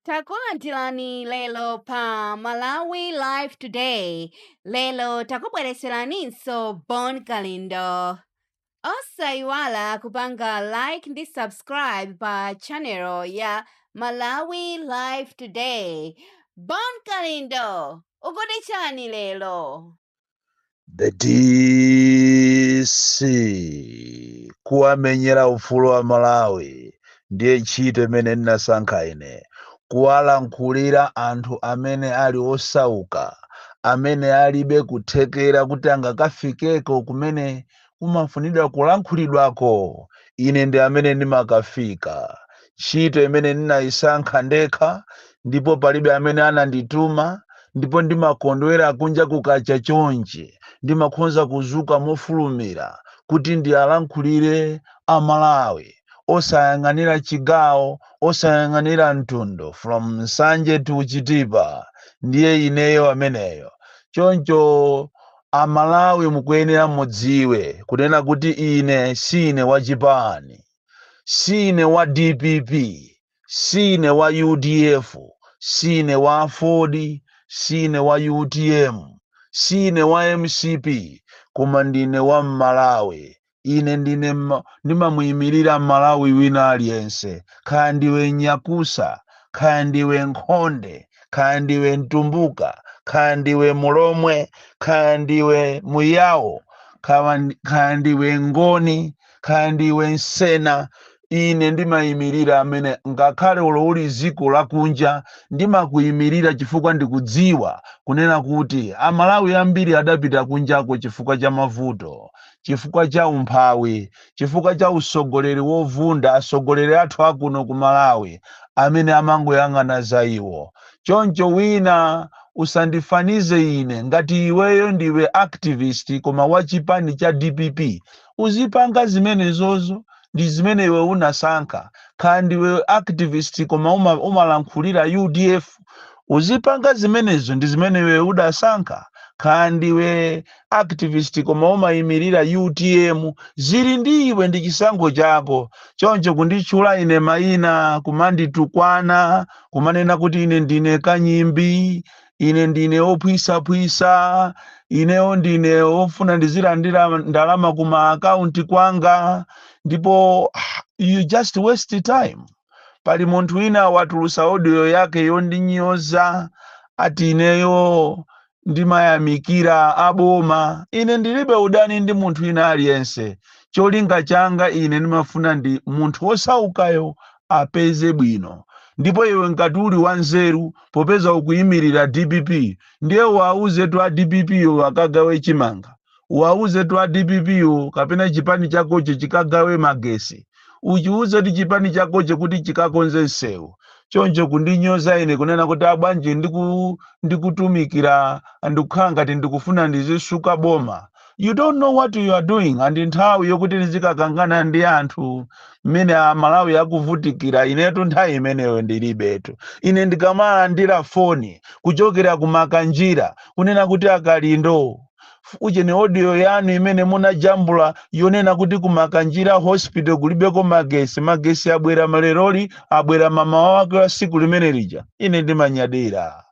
Takulandirani lero pa Malawi Live Today. Lero takubwereseraninso Bon Kalindo. Osayiwala kupanga like ndi subscribe pa channel ya Malawi Live Today. Bon Kalindo, ukuti chani lero? the dc kuwamenyera ufulu amalawi ndiye ntchito imene ndinasankha ine kuwalankhulira anthu amene ali osauka amene alibe kuthekera kuti angakafikeko kumene kumafunidwa kulankhulidwako, ine ndi amene ndimakafika. Ntchito imene ndinaisankha ndekha, ndipo palibe amene anandituma, ndipo ndimakondwera kunja kukacha chonchi, ndimakhonza kuzuka mofulumira kuti ndialankhulire a Malawi, osayang'anira chigawo, osayang'anira mtundu, from Nsanje to Chitipa, ndiye ineyo ameneyo. Choncho Amalawi mukuyenera mudziwe kunena kuti ine siine wa chipani, siine wa dpp, siine wa udf, siine wa aford, siine wa utm, siine wa mcp koma ndine wa Mmalawi ine ndine mma- ndimamuyimirira malawi wina aliyense khaya ndiwe nyakusa khaya ndiwe nkhonde khaya ndiwe mtumbuka khaya ndiwe mulomwe khaya ndiwe muyawo khaya ndi- khaya ndiwe ngoni khaya ndiwe nsena ine ndimayimirira amene ngakhale olo uli dziko lakunja ndimakuyimirira chifukwa ndikudziwa kunena kuti amalawi ambiri adapita kunjako chifukwa cha mavuto chifukwa cha umphawi chifukwa cha usogoleri wovunda asogoleri athu akuno ku malawi amene amangoyang'ana za iwo choncho wina usandifanize ine ngati iweyo ndiwe activist koma wa chipani cha dpp uzipanga zimenezozo ndi zimene iwe unasankha kaya ndiwe activist koma umalankhulira udf uzipanga zimenezo ndi zimene iwe udasankha kaya ndiwe activist koma umayimirira utm zili ndi iwe ndi chisankho chako choncho kunditchula ine mayina kumanditukwana kumanena kuti ine ndine kanyimbi ine ndine wophwisaphwisa ineyo ndine wofuna ndizilandira ndalama ku maakaunti kwanga ndipo you just waste time pali munthu wina watulusa audio yake yondinyoza ati ineyo ndimayamikira aboma ine ndilibe udani ndi munthu wina aliyense cholinga changa ine ndimafuna ndi munthu wosaukayo apeze bwino ndipo iwe ngati uli wanzeru popeza ukuyimirira dpp ndiye uwauzetu a dpp wo akagawe chimanga uwauzetu a dpp wo kapena chipani chakocho chikagawe magesi uchiuzetu chipani chakocho kuti chikakonze msewu choncho kundinyoza ine kunena kuti abwanji ndikutumikira ndikukhala ngati ndikufuna ndizisuka boma you don't know what you are doing and nthawi yokuti nizikakangana ndi anthu mmene amalawi akuvutikira inetu nthawi imeneyo ndilibetu ine ndikamalandira foni kuchokera kumakanjira kunena kuti akalindo ujeni audio yanu imene munajambula yonena kuti kumakanjira hospital kulibeko magesi magesi abwera maleroli abwera mamawa wake wa siku limene lija ine ndimanyadira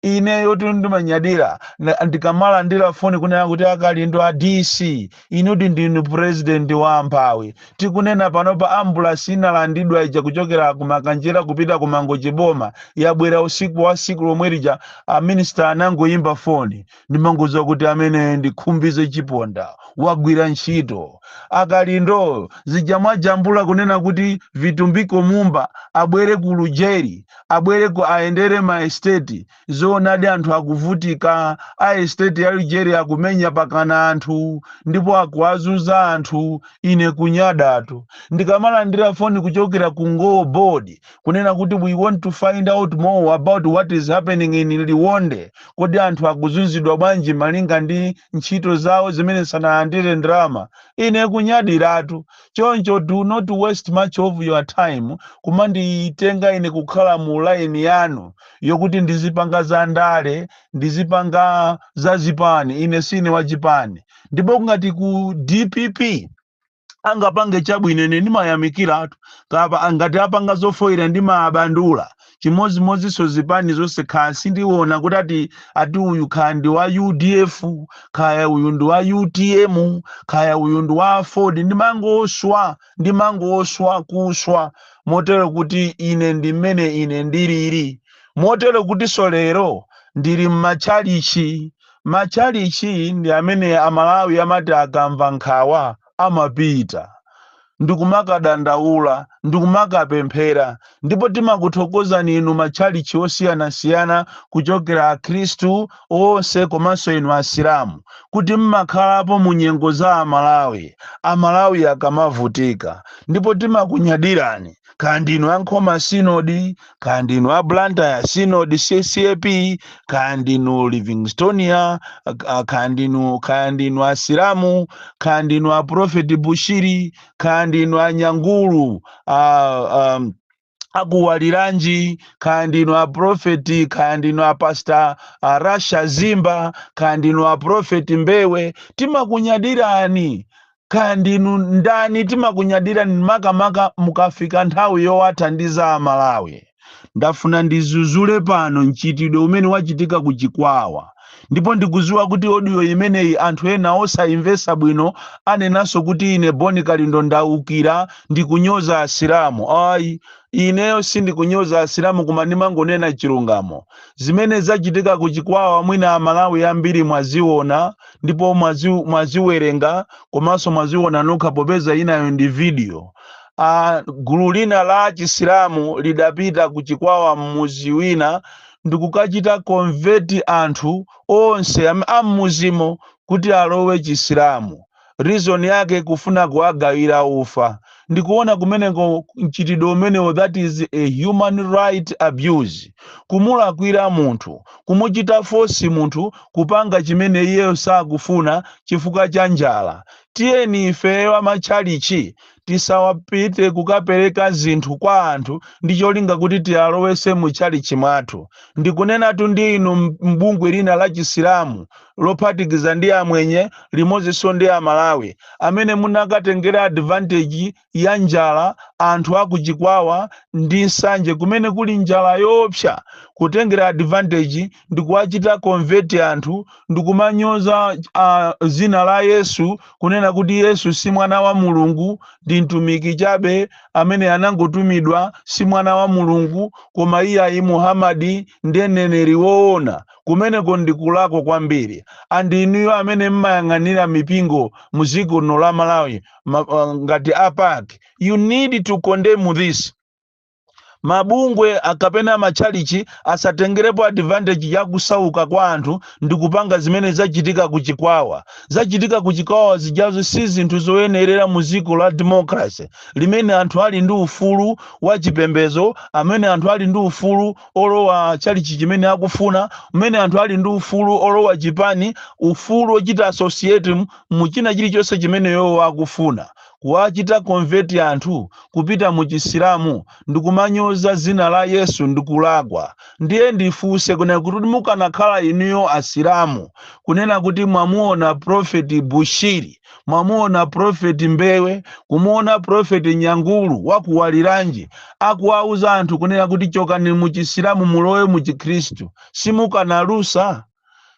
ineyotu ndimanyadira ndikamalandira foni kunena kuti akalindo a dc inuti ndinu purezidenti wa amphawi tikunena panopa ambulasi inalandidwa ija kuchokera ku makanjira kupita ku mangochi boma yabwera usiku wa siku lomwe lija aminisita anangoyimba foni ndimangoziwa kuti amene ndi khumbize chiponda wagwira ntchito akalindo zija mwajambula kunena kuti vitumbiko mumba abwere ku lujeri abwere ku ayendere ma estate zoonadi anthu akuvutika a estate ya Lujeri akumenya pakana anthu ndipo akuwazuza anthu ine kunyadatu ndikamalandira foni kuchokera ku NGO board kunena kuti we want to find out more about what is happening in Liwonde kodi anthu akuzunzidwa bwanji malinga ndi ntchito zawo zimene sanalandire ndalama ine kunyadiratu choncho do not waste much of your time kumanditenga ine kukhala mu line yanu yokuti ndizipanga za ndale ndizipanga za zipani ine sine wa chipani ndipo ngati ku dpp angapange chabwino ine ndimayamikiratu kapa ngati apanga zofoyira ndimaabandula chimodzimodzinso zipani zonse kaya sindiona kuti ati ati uyu kaya ndi wa udf kaya uyu ndi wa utm kaya uyu ndi wa aford ndimangoswa ndimangoswa kuswa motero kuti ine ndi mmene ine ndilili motero kutinso lero ndili m'matchalichi matchalichi ndi amene amalawi amati akamva nkhawa amapita ndi kumakadandaula, ndi kumakapemphera. Ndipo timakuthokozani inu, matchalitchi osiyanasiyana, kuchokera Akhristu onse komanso inu Asilamu, kuti mmakhalapo mu nyengo za Amalawi, Amalawi akamavutika. Ndipo timakunyadirani kaya ndinu a nkhoma synod kaya ndinu a blantyre synod ccap kaya ndinu livingstonia ah, kaya ndinu kaya ndinu asilamu kaya ndinu a prophet bushiri kaya ndinu a nyangulu ah, um, akuwaliranji kaya ndinu a profeti kaya ndinu a pasta a rasha zimba kaya ndinu a profeti mbewe timakunyadirani kaya ndinu ndani timakunyadirani makamaka mukafika nthawi yowathandiza amalawi ndafuna ndizuzule pano mchitidwe umene wachitika ku chikwawa ndipo ndikuziwa kuti odiyo imeneyi anthu ena osayimvesa bwino anenanso kuti ine boni kalindo ndaukira ndikunyoza asilamu ayi ineyo sindikunyoza asilamu koma ndimangonena chilungamo zimene zachitika ku chikwawa mwina amalawi ambiri mwaziona ndipo mwazi- mwaziwerenga komanso mwaziona nokha popeza inayo ndi video a gulu lina la chisilamu lidapita ku chikwawa mmuzi wina ndikukachita konveti anthu onse am- a mmuzimo kuti alowe chisilamu reason yake kufuna kuwagawira ufa ndikuona kumeneko mchitidwe umenewo that is a human right abuse kumulakwira munthu kumuchita fosi munthu kupanga chimene iyeyo sakufuna chifukwa cha njala tiyeni ifeyo amatchalichi tisawapite kukapereka zinthu kwa anthu ndi cholinga kuti tiwalowese mu tchalichi mwathu ndikunenatu ndi inu m- m'bungwe lina la chisilamu lophatikiza ndi amwenye limozinso ndi amalawi amene munakatengera advantage ya njala anthu aku chikwawa ndi nsanje kumene kuli njala yoopsa kutengera advantage ndikuwachita convert anthu ndikumanyoza uh, zina la yesu kunena kuti yesu si mwana wa mulungu ndi mtumiki chabe amene anangotumidwa si mwana wa mulungu koma iye ayi muhamadi ndiye mneneri woona kumeneko ndi kulakwa kwambiri and inuyo amene mmayang'anira mipingo mu ziko lino la malawi ma, uh, ngati a pac you need to condemn this mabungwe a- kapena matchalichi asatengerepo advantage ya kusauka kwa anthu ndi kupanga zimene zachitika ku chikwawa zachitika ku chikwawa zijazo si zinthu zoyenerera mu ziko la democracy limene anthu ali ndi ufulu wa chipembezo, amene anthu ali ndi ufulu olowa chalichi chimene akufuna, umene anthu ali ndi ufulu olowa chipani, ufulu ochita associate mu china chilichonse chimene iwowo akufuna. Kuwachita convert anthu kupita mu chisilamu ndikumanyoza zina la Yesu ndikulakwa. Ndiye ndifunse kunena kuti mukanakhala inuyo asilamu kunena kuti mwamuona prophet Bushiri, mwamuona profeti mbewe kumuona profeti nyangulu wakuwaliranji akuwauza anthu kunena kuti chokani muchisilamu mulowe muchikhristu simukanalusa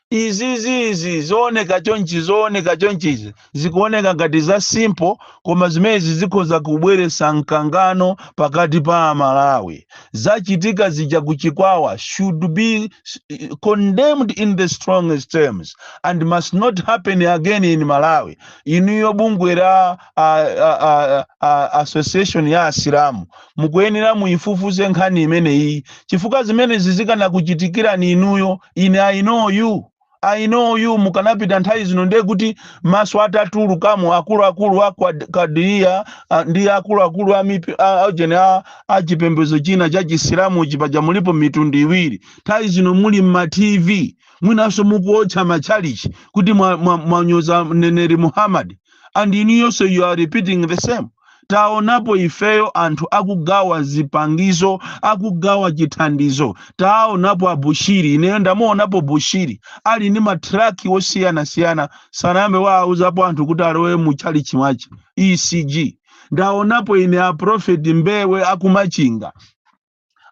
izizizi zooneka chonchi zooneka chonchizi zikuoneka ngati za simple koma zimenezi zikhoza kubweretsa mkangano pakati pa amalawi zachitika zija ku chikwawa should be eh, condemned in the strongest terms and must not happen again in malawi inuyo bungwe la a, a, a, a, association ya asilamu mukuyenera muifufuze nkhani imeneyi chifukwa zimenezi zikanakuchitikirani inuyo ine i know you I know you mukanapita nthawi zino ndiye kuti maso atatulukamo akuluakulu a Quad- Kadiriya a- ndi akuluakulu a mipi- a- a- jene a- a chipembedzo china cha chisilamuchi paja mulipo mitundu iwiri nthawi zino muli mma tv mwinanso mukuotcha matchalichi kuti mwanyoza mwa, mwa mneneri muhammad and inuyonso you are repeating the same taonapo ifeyo anthu akugawa zipangizo akugawa chithandizo taonapo abushiri ineyo ndamuonapo bushiri ali ndi matraki osiyanasiyana sanambe wawauzapo anthu kuti alowe mu chalichi mwache ecg ndaonapo ine aprofeti mbewe akumachinga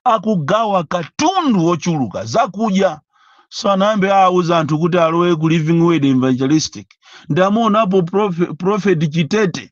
akugawa katundu wochuluka zakudya sanambe awauza anthu kuti alowe ku living word evangelistic ndamuonapo profe- prophet chitete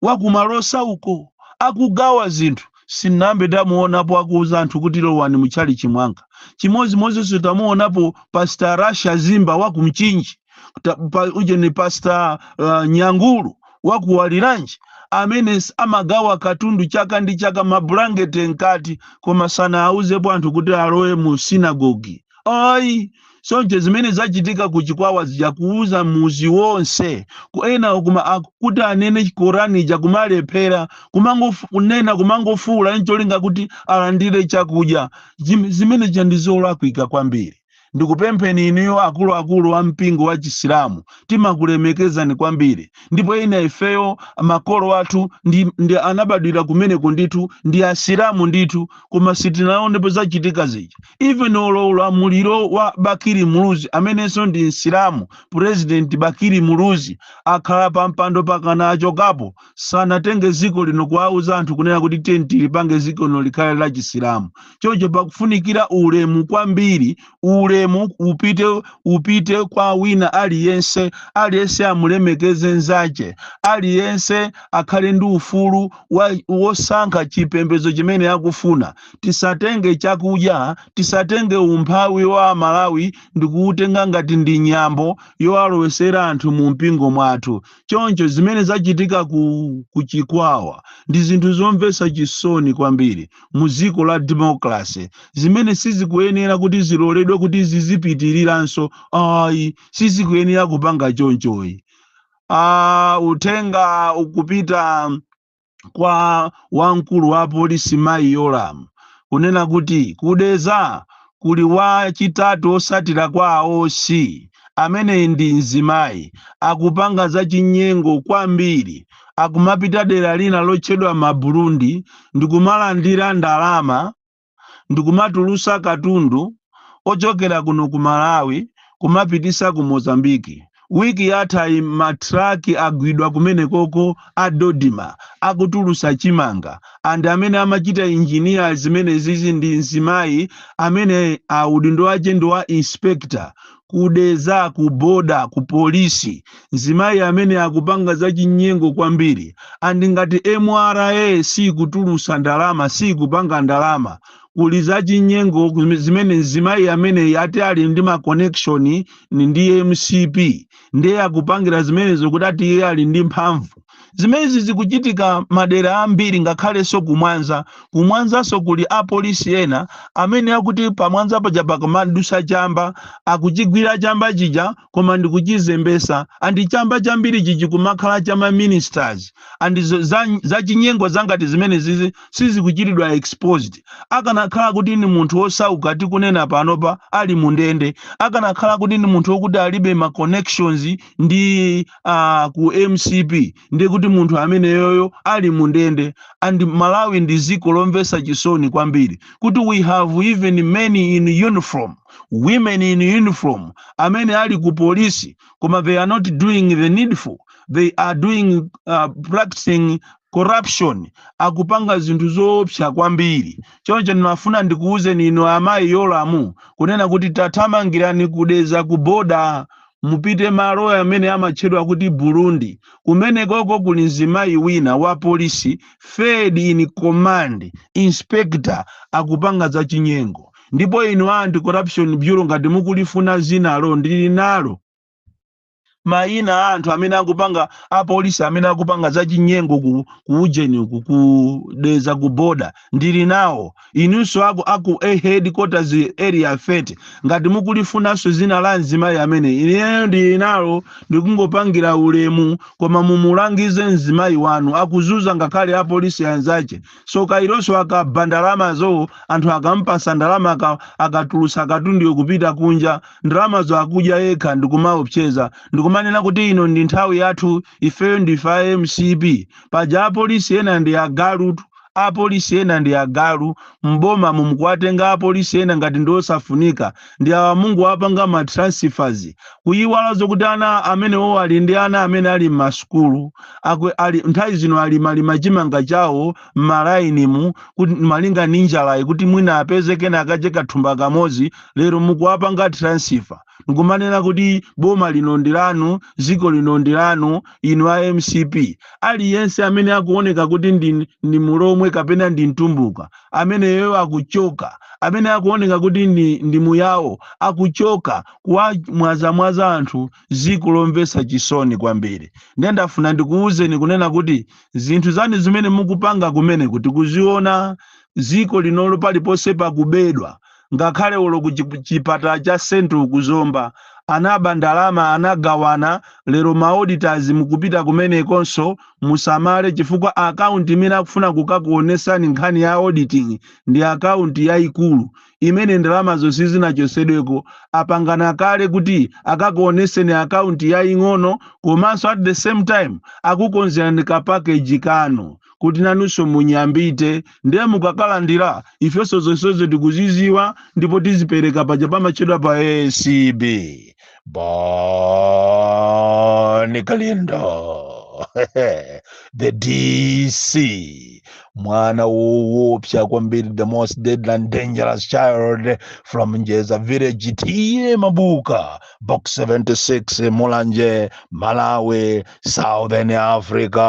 wakumalosa uko akugawa zinthu sinambe ndamuonapo akuuza anthu kuti lowani mutchalichi mwanga chimodzimodzinso tamuonapo pastor rasha zimba wakumchinji Ta- pa- uje ni pasta uh, nyangulu wakuwaliranji amene s- amagawa katundu chaka ndi chaka mabulangete mkati koma sanawauzepo anthu kuti alowe mu sinagogi ayi soncho zimene zachitika ku chikwawa zija kuuza muzi wonse ku ena kuma aku- kuti anene korani ija kumalephera kumangofu- kunena kumangofuula ncholinga kuti alandire chakudya Zim- zimene zija ndi zolakwika kwambiri ndikupempheni inuyo akuluakulu a mpingo wa chisilamu timakulemekezani kwambiri ndipo ina ifeyo makolo athu ndi, ndi anabadwira kumeneko ndithu ndi asilamu ndithu koma sitinaonepo zachitika zija even olo ulamuliro wa bakiri muluzi amenenso ndi msilamu president bakiri muluzi akhala pa mpando pakana achokapo sanatenge dziko lino kuwauza anthu kunena kuti tiyeni tilipange dziko lino likhale la chisilamu choncho pakufunikira ulemu kwambiri ulemu upite upite kwa wina aliyense aliyense amulemekeze nzache aliyense akhale ndi ufulu wa- wosankha chipembedzo chimene akufuna tisatenge chakudya tisatenge umphawi wa amalawi ndikuutenga ngati ndi nyambo yowalowesera anthu mu mpingo mwathu Choncho zimene zachitika ku, ku Chikwawa ndi zinthu zomvetsa chisoni kwambiri mu dziko la democracy zimene sizikuyenera kuti ziloledwe kuti zizipitiriranso ayi, sizikuyenera kupanga chonchoyi. Ah, uthenga ukupita kwa wamkulu wa polisi mayi Yolamu kunena kuti ku Dedza kuli wachitatu wotsatira kwa a OC amene ndi mzimayi akupanga zachinyengo kwambiri akumapita dera lina lotchedwa Maburundi ndikumalandira ndalama ndikumatulutsa katundu ochokera kuno ku Malawi kumapititsa ku Mozambique wiki yathayi matraki agwidwa kumenekoko a Dodma akutulutsa chimanga and amene amachita engineer zimenezizi ndi mzimayi amene uh, udindo wache ndi wa inspector ku Dedza ku border ku polisi mzimayi amene akupanga zachinyengo kwambiri and ngati MRA sikutulutsa ndalama sikupanga ndalama kuli zachinyengo kume- zimene mzimayi amene ati ali ndi ma connection ni ndi MCP ndiye akupangira zimenezo kuti ati iye ali ndi mphamvu Zimenezi zikuchitika madera ambiri ngakhalenso ku Mwanza. Ku Mwanzanso kuli apolisi ena amene akuti pa Mwanza paja pakamadutsa chamba, akuchigwira chamba chija koma ndi kuchizembetsa and chamba chambirichi chikumakhala cha ma ministers and zo- za- zachinyengo zangati zimenezizi sizikuchitidwa exposed. Akanakhala kuti ndi munthu wosauka tikunena panopa ali mu ndende, akanakhala kuti ndi munthu wokuti alibe ma connections ndi a ku MCP ndiye kuti munthu ameneyoyo ali mu ndende and Malawi ndi dziko lomvetsa chisoni kwambiri kuti we have even men in uniform women in uniform amene ali ku polisi koma they are not doing the needful they are doing uh, practicing corruption akupanga zinthu zoopsa kwambiri choncho ndinafuna ndikuwuzeni inu amayi Yolamu kunena kuti tathamangirani ku Dedza ku border mupite malo amene amatchedwa kuti Burundi, kumenekoko kuli mzimayi wina wa polisi third in command, inspector, akupanga za chinyengo. Ndipo inu a Anti Corruption Bureau ngati mukulifuna dzinalo ndili nalo, mayina a anthu amene akupanga a polisi amene akupanga za chinyengo ku, ku ujeni uku ku Dedza ku border ndili nawo. Inunso aku aku a headquarters area 30 ngati mukulifunanso zina la mzimayi ameneyi ineyo ndili nalo ndikungopangira ulemu koma mumulangize mzimayi wanu akuzunza ngakhale apolisi anzache so kailonso akaba ndalamazo anthu akampatsa ndalama aka- akatulutsa katunduyo kupita kunja ndalamazo akudya yekha ndikumawaopseza ndikumanena kuti ino ndi nthawi yathu ifeyo ndife a mcp paja apolisi ena ndi agalutu apolisi ena ndi agalu, m'bomamo mukuwatenga apolisi ena ngati ndiosafunika, ndi awa mukungowapanga ma transfers, kuiwala zokuti ana amenewowo ali ndi ana amene ali m'masukulu, aku, ali, nthawi zino alima lima chimanga chawo m'ma line mu, kuti, malinga ndi njalayi kuti mwina apeze kena kache kathumba kamodzi, lero mukuwapanga transfer. ndikumanena kuti boma lino ndi lanu dziko lino ndi lanu inu a mcp aliyense amene akuoneka kuti ndi, ndi mulomwe kapena ndi mtumbuka ameneyo akuchoka amene akuoneka kuti ndi, ndi muyawo akuchoka kuwamwazamwaza anthu dziko lomvetsa chisoni kwambiri ndiye ndafuna ndikuwuzeni kunena kuti zinthu zanu zimene mukupanga kumeneku tikuziona dziko linolo paliponse pakubedwa ngakhale olo ku chi- chipatala cha central ku zomba anaba ndalama anagawana lero ma auditors mukupita kumenekonso musamale chifukwa akaunti imene akufuna kukakuonesani nkhani ya auditing ndi akaunti yayikulu imene ndalama zonse zinachotsedweko apangana kale kuti akakuoneseni akaunti yaying'ono komanso at the same time akukonzerani ka package kanu kuti nanunso munyambite ndiye mukakalandira ifenso zonsezo tikuzidziwa ndipo tizipereka paja pamatchedwa pa acb bon kalindo the dc mwana woopsa kwambiri the most deadly and dangerous child from njeza village t a mabuka box 76 mulanje malawi southern africa